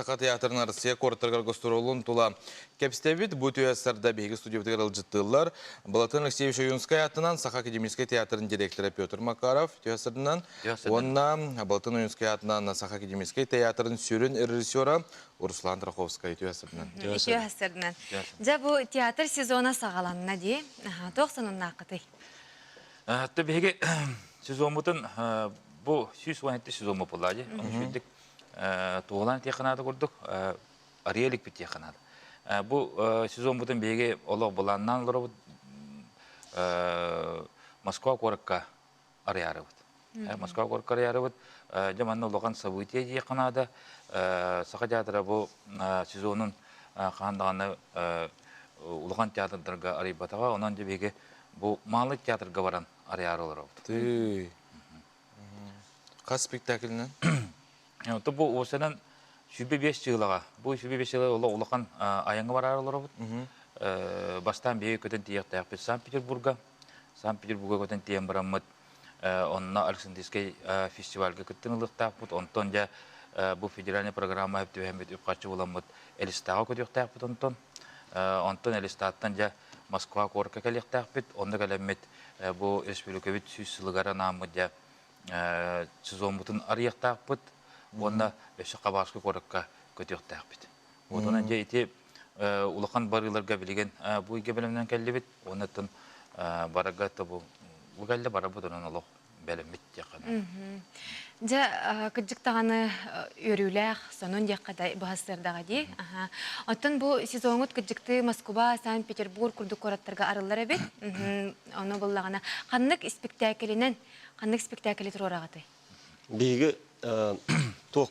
Саха театрын Россия куораттарыгар гастролун тула кэпсэбит. Бу түһэссэрдэ биһиги студиябытыгар ыалдьыттыыллар. Балатын Алексеевич Ойуунскай аатынан Саха академическай театрын директора Петр Макаров түһэссэринэн уонна Балатын Ойуунскай аатынан Саха академическай театрын сүрүн режиссера Руслан Траховскай түһэссэринэн. Түһэссэринэн. Дьэ бу театр сезона саҕаланна дии. Туох сонуннааххытый? Биһиги сезоммутун бу сүүс уон сезон боппуллаа дии. туолан этиэххэ наада курдук арыйа иликпит диэххэ наада. Бу сезон бутун биһиги олох былааннаан олоробут Москва куоракка арыйаарыбыт. Москва куоракка арыйаарыбыт. Дьэ манна улахан событие диэххэ наада. Саха театра бу сезонун хаһан даҕаны улахан театрдарга арыйбатаҕа. Онон дьэ биһиги бу маалы театрга баран арыйаары олоробут. Хас спектаклынан? Э, бу уосанан сүүбэ биэс сыылаҕа. Бу сүүбэ биэс сыыла олох улахан айаҥы бараар олоробут. Э, бастаан биһиги көтөн тиийиэхтээхпит Санкт-Петербурга. Санкт-Петербурга көтөн тиийэн бараммыт. Э, онно Александрийскай фестивальга кыттын ылыахтаахпыт. Онтон дьэ бу федеральная программа түбэһэммит үп-харчы буламмыт Элистаҕа көтүөхтээхпит онтон. Онтон Элистаттан дьэ Москва куоракка кэлиэхтээхпит. Онно кэлэммит Бу өрөспүүбүлүкэбит сүүс сылыгар анааммыт дьэ сезоммутун арыйыахтаахпыт уонна өссө Хабаровский куоракка көтүөхтээхпит. Уотунан дьэ ити улахан барыыларга билигин бу ыйга бэлэмнэн кэллибит уонна тын барарга тобу кэллэ барарбыт онон олох бэлэммит. Дьэ, кырдьык даҕаны үөрүүлээх, сонун диэххэ да быһассыардаҕа дии. Оттон бу сезоҥҥут кырдьыктыы Москуба, Санкт-Петербург курдук куораттарга арыллар эбит. Ону буллаҕына, ханнык испиктээкилинэн, ханнык испиктээкили туруораҕытый? Биһиги туох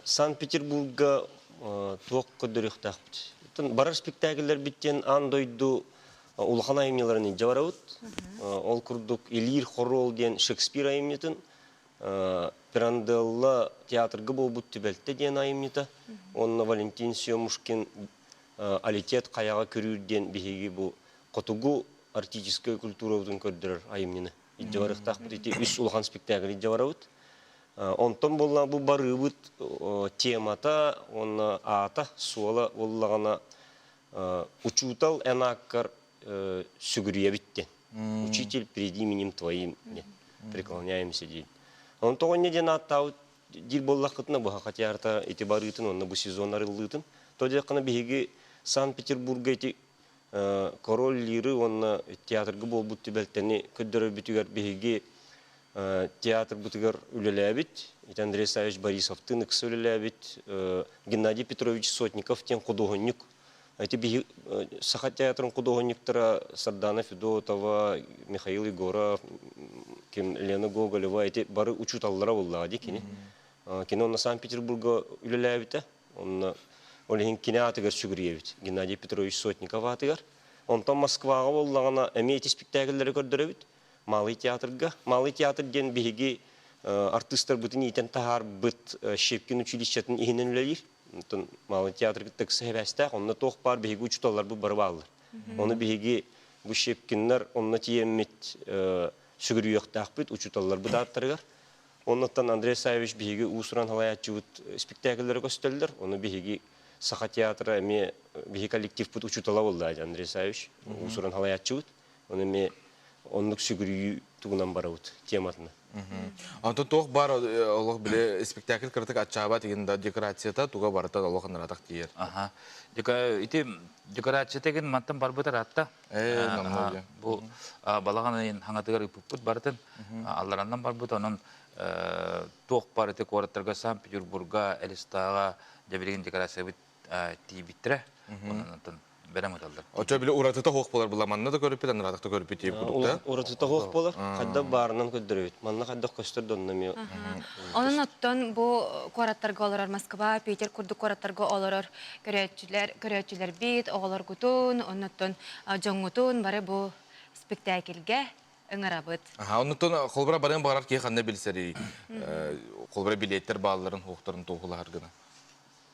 Санкт-Петербурга туох көрдөрүөхтээхпит? Барар спектакльлэрбит диэн аан дойду улахан айымньыларын илдьэ барабыт. Ол курдук Илиир хоруол диэн Шекспир айымньытын, Пиранделла театрга буолбут түбэлтэ диэн айымньыта, уонна Валентин Семушкин Алитет хайаҕа көрүүр диэн биһиги бу хотугу артическай культурабытын көрдөрөр айымньыны илдьэ барыахтаахпыт. Ити үс улахан спектакль илдьэ барабыт. Онтон буолла бу барыыбыт темата уонна аата суола буоллаҕына Учуутал эн ааккар сүгүрүйэбит диэн. Учитель, приди именем твоим диэн. Преклоняемся диэн. Он тоҕоння диэн ааттаабыт диир буоллаххытына быһа хотярта ити барыытын онно бу сезон арыллыытын. То диэххина биһиги Санкт-Петербурга эти король лиры уонна театрга буолбут түбэлтэни көрдөрөрбүтүгэр биһиги театрбытыгар үлэлээбит, ити Андрей Савич Борисовтыын ыкса үлэлээбит Геннадий Петрович Сотников диэн худуоһунньук, ити биһи Саха театрын худуоһунньуктара Сардана Федотова, Михаил Егоров, ким Лена Гоголева, ити бары учууталлара буоллаҕа дии кини. Кино онно Санкт-Петербурга үлэлээбитэ, онно ол иһин кини аатыгар сүгүрүйэбит Геннадий Петрович Сотников аатыгар. Онтон Москваҕа буоллаҕына эмиэ ити спектакльлэри көрдөрөбүт. Малый театрга. Малый театр диэн биһиги артыыстарбытын иитэн таһаарбыт Щепкин училищетын иһинэн үлэлиир. Онтон Малый театр кытта ыкса сибээстээх. Онно туох баар биһиги учууталларбыт бары бааллар. Ону биһиги бу Щепкиннар онно тиийэммит сүгүрүйүөхтээхпит учууталларбыт ааттарыгар. Оннуттан Андрей Савич биһиги уус-уран салайааччыбыт спектакльлэрэ көстөллөр. Ону биһиги Саха театра эмиэ биһи коллективпыт учуутала буолла Андрей Савич уус-уран салайааччыбыт. Оны эмиэ оннук сүгүрүйүү тугунан барабыт тематына. Онто туох бар олох биле спектакль кыратык аччаабат игин да декорацията туга барытан олох анаратак тиер. Аха. Ити декорацията гин мантан барбыт аратта. Э, намнолия. Бу балаган хаңатыгар ыппыппыт бартын алларандан барбыт онон э, туох бар ити куораттарга Санкт-Петербурга, Элистаага дебилигин декорация бит тиийбиттэрэ онон бэлэм ыталлар очо били уратыта хох болар була манна да көрүппүт анарата да көрүппүт тиип кудуктаа уратыта хох болар хайдах баарынан көддөрөбүт манна хайдах көстөр донно мио онон оттон бу куораттарга олорор москва питер курдук куораттарга олорор көрөөччүлэр көрөөччүлэр бит оҕолоргутун оннуттун дьоҥҥутун бары бу спектакльге ыҥырабыт аха оннуттан холбура барыан барар киһи ханна билсэрий холбура билеттер баалларын уохтарын туохулаһар гына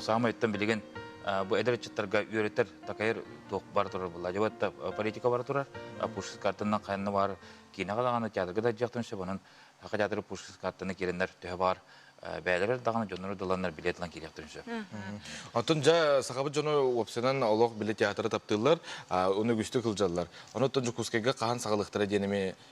Саамайтан билигин бу эдэр ыччаттарга үөрэтэр, такайар туох бара турар буолла. Дьабатта политика бара турар, пушкин картанан хайанна бар, киинэҕэ даҕаны театрга да дьахтан сөбүнэн хака театры пушкин картаны киирэннэр төһө бар, бээлэрэр даҕаны дьоннору дыланнар билет ылан киириэхтэрин сөп. Оттон дьэ сахабыт дьоно уопсанан олох биле театры таптыыллар, оны үгүстүк ылдьаллар. Ону оттон Дьокуускайга хаһан саҕалыахтара диэн эми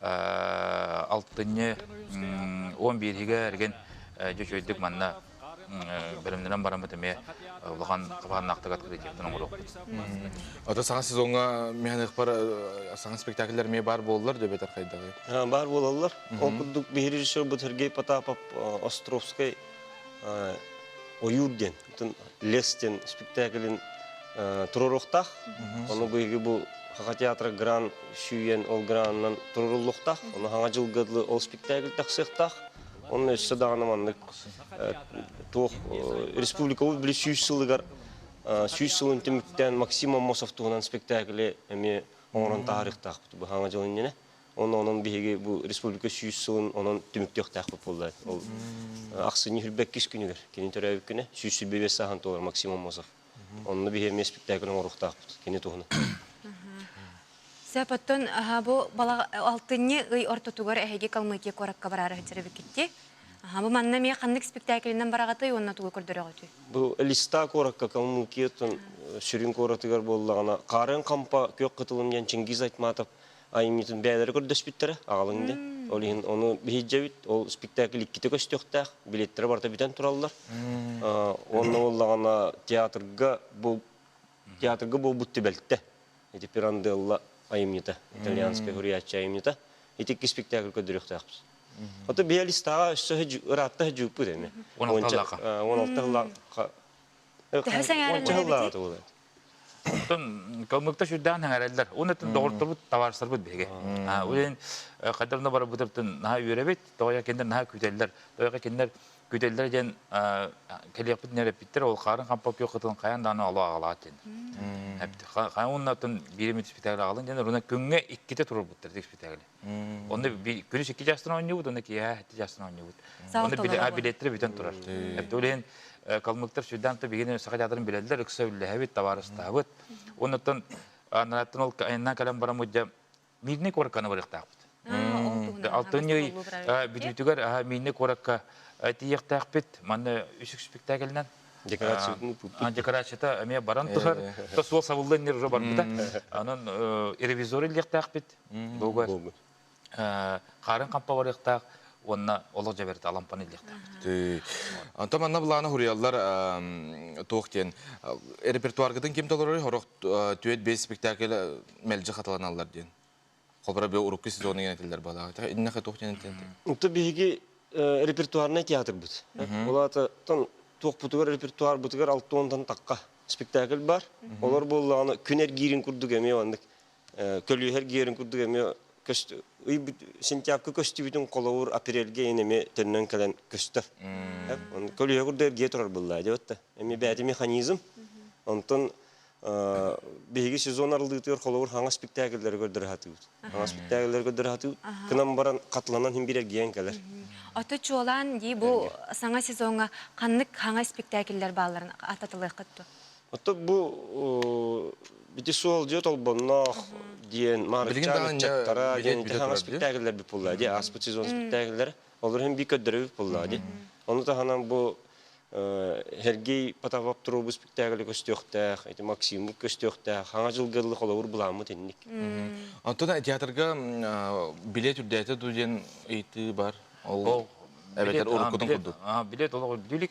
алтынньы он бииригэ эрген дьочойдук манна бэлэмнэнэн бараммыт эмиэ улахан хабааннаахтык открытиятын оҥоруохпут. Ото саҥа сезоҥҥа механикпар саҥа спектакльлэр эмиэ баар буоллар дөбөтөр хайдаҕый? Баар буолаллар. Ол курдук бий режиссер бу Сергей Потапов Островскай ойуур диэн лес диэн спектаклин туруоруохтаах. Ону быйыгы бу Хаха театра гран сүйен ол гранынан туруруллуохтаах. Ону хаҥа дьылгылы ол спектакль тахсыахтаах. Онно өссө даҕаны маннык туох республикабыт били сүүс сылыгар сүүс сылын түмүктээн Максим Аммосов туһунан спектакли эмиэ оҥорон таһаарыахтаахпыт бу хаҥа дьыл иннинэ. Онон биһиги бу республика сүүс сылын онон түмүктүөхтээхпит буолла. Ол ахсынньы үрбэккис күнүгэр кини төрөөбүт күнэ сүүс сүүс сааһын туолар Максим Омосов. Онно биһи эмиэ спектакль оҥоруохтаахпыт кини туһунан. Сапоттон бу алтынньы ый ортотугар эһиги Калмыкия куоракка бараары сылдьарбыккитти. Бу манна эмиэ ханнык спектаклиннан бараҕытай уонна тугу көрдөрөҕүтүй? Бу Листа куоракка Калмыкия сүрүн куоратыгар буоллаҕына, Хаарыан Хампа, Күөх Кытылым диэн Чингиз Айтматов аймитин бэйэлэрэ көрдөспүттэрэ аҕалыҥ дии ол иһин ону биһирдьэбит ол спектакль иккитэ көстүөхтээх билеттэрэ барыта бүтэн тураллар уонна буоллаҕына театрга бу театрга буолбут түбэлтэ ити пиранделла айымньыта итальянская хуриячча айымньыта итикки спектакль көрдөрүөхтээхпит хоту биалистаҕа өссө ыраатта сдьыыппыт эми уоналта ыла уонча сыллааҕы Оттон калмыктар сүрдээх эҥэрэллэр. Уон атын доҕорторбут, табаарыстарбыт биһиги. Уйен хайдах да барбытыттан наһаа үөрэбит, тоҕо кинилэр наһаа күүтэллэр. Тоҕо кинилэр күүтэллэр диэн кэлиэхпит нэреппиттэр, ол хаарын хампа күөх кытын хайаан даҕаны оло аҕалаат диэн. Хай уонна атын биири спектакль аҕалын диэн, руна күҥҥэ иккитэ турурбуттар спектакли. Онно күнүс икки чаастан оонньуубут, онно киэһэ эти чаастан оонньуубут. Онно билеттэрэ бүтэн турар. Билин калмыктар сүрдээн то бигини саха театрын билэллэр, ыкса үллэһэбит, табаарыстаһабыт. Оннуттан анааттан ол айынан кэлэн бараммыт Мирный куоракканы барыахтаахпыт. Алтынньый бүтүүтүгэр Мирный куоракка тиехтээхпит, манна үсүк спектакльнан декорацията эмиэ баран тухар, то суол сабыллан нер барбыта. Анан ревизор иллиэхтээхпит. Бугар. Харын хампа барыктаах уонна олох жаберти алампаны илиэхтаах. Антон манна былаана хурияллар туох диэн репертуаргытын ким толорор хорох түөт бес спектакль мэлжи хаталаналлар диэн. Хобра бе урукку сезоны генетиллер балаата. Инна хатух диэн Ту биһиги репертуарнай театрбыт. Олаатан туохпутугар репертуарбытыгар алтуонтан такка спектакль бар. Олор буоллаҕына күн эргиирин курдук эмиэ оннук көлүөһэр гиэрин курдук эмиэ сентябрька көстүбүтүн холобур апрельге ин эми төннөн кэлэн көстөр көлүөһэ курдук эргие турар былла диэбэт да эми бээти механизм онтон биһиги сезон арылдытыгар холобур хаҥас спектакльлэри көрдөрө хатыыбыт хаҥас спектакльлэри көрдөрө хатыыбыт кынам баран катланан хин бир эргиэн кэлэр ото чуолаан дии бу саҥа сезоҥҥа ханнык хаҥас спектакльлэр баалларын ататылыаххыт Оттон бу Бити суолдьа толбонноох диэн Маарычаан ыччаттара диэн ити хаҥас спектакльлэрбит булла ди аспыт сезон спектакльлэр олор иһин би көрдөрөбүт булла ди ону таһынан бу Сергей Потапов туруубу спектакль көстүөхтээх ити Максиммут көстүөхтээх хаҥа дьылгыллык холобур буламмыт инник онтон театрга билет үрдээтэ ду диэн ыйытыы бар ол эбэтэр уруккутун курдук билет олох үрдүлүк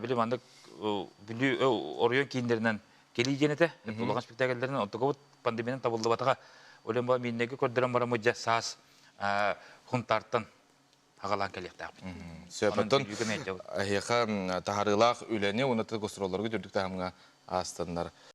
били маннык Бүлүү оройуон кииннэринэн кэлии диэн этэ улахан спектакльлэринэн оттугабыт пандемиянан табыллыбатаҕа өлөн баран миннэги көрдөрөн бараммыт дьэ саас Хунтаартан аҕалаан кэлиэхтээхпит. Сөпөтүн эһиэхэ таһарыылаах үлэни уонна гастроллоргут үрдүк таһымҥа аастаннар.